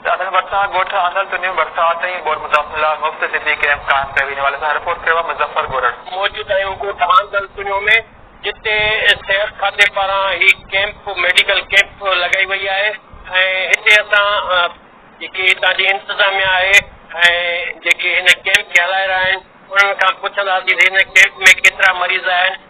دادن ڀرسان ڳوٺ آندل تنيون ڀرسان ٽئين بورڊ متاثرن لاء مفت طبي ڪئمپ قائم ڪيو ويندو، حوالي سان رپورٽ ڪيو آهي مظفر ڳورڙ. موجود آهيون ڳوٺ آندل تنيون ۾ جتي صحت کاتي پاران هي ڪئمپ ميڊيڪل ڪئمپ لڳائي وئي آهي ۽ هتي اسان جيڪي هتان جي انتظاميا آهي ۽ جيڪي هن ڪئمپ کي هلائي رهيا آهن انهن کان پڇنداسين ته هن ڪئمپ ۾ ڪيترا مريض آهن.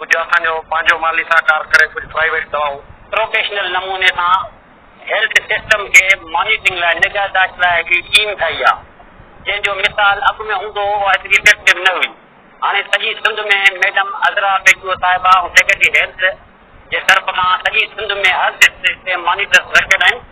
ڪجهه اسان جو پنهنجو مالي سهڪار ڪري ڪجهه پرائيويٽ دوائون. پروفيشنل نموني سان هيلٿ سسٽم کي مانيٽرنگ لاء نگهداشت لاء هڪڙي ٽيم ٺاهي آ جنهن جو مثال اڳ ۾ هوندو هو اها ايتري افيڪٽو نه هئي هاڻي سڄي سنڌ ۾ ميڊم عذرا پيجو صاحبه ۽ سيڪريٽري هيلٿ جي طرف کان سڄي سنڌ ۾ هر ڊسٽرڪٽ تي مانيٽرس رکيل آهن.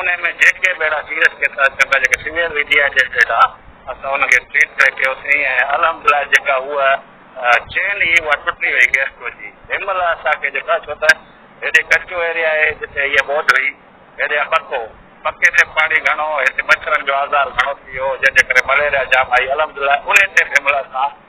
انهي ۾ جيڪي به اهڙا سيريس ڪيس اچن ٿا جيڪي سويئر وي ڊي ايڊيٽيڊ آ اسان انهن کي ٽريٽ بيڪ ڪيوسين ۽ الحمدلله جيڪا هوء چين هي اها ٽٽي وئي گيسٽرو جي تنهن مهل اسان کي جيڪو آ ڇو ته هيڏي ڪچو ايريا آهي جتي هيء ٻوڏ هئي هيڏي پڪو پڪي تي پاڻي گهڻو هتي مڇرن جو آزار گهڻو ٿي ويو جنهن جي ڪري مليريا جام آئي الحمدلله انهي تي تنهن مهل اسان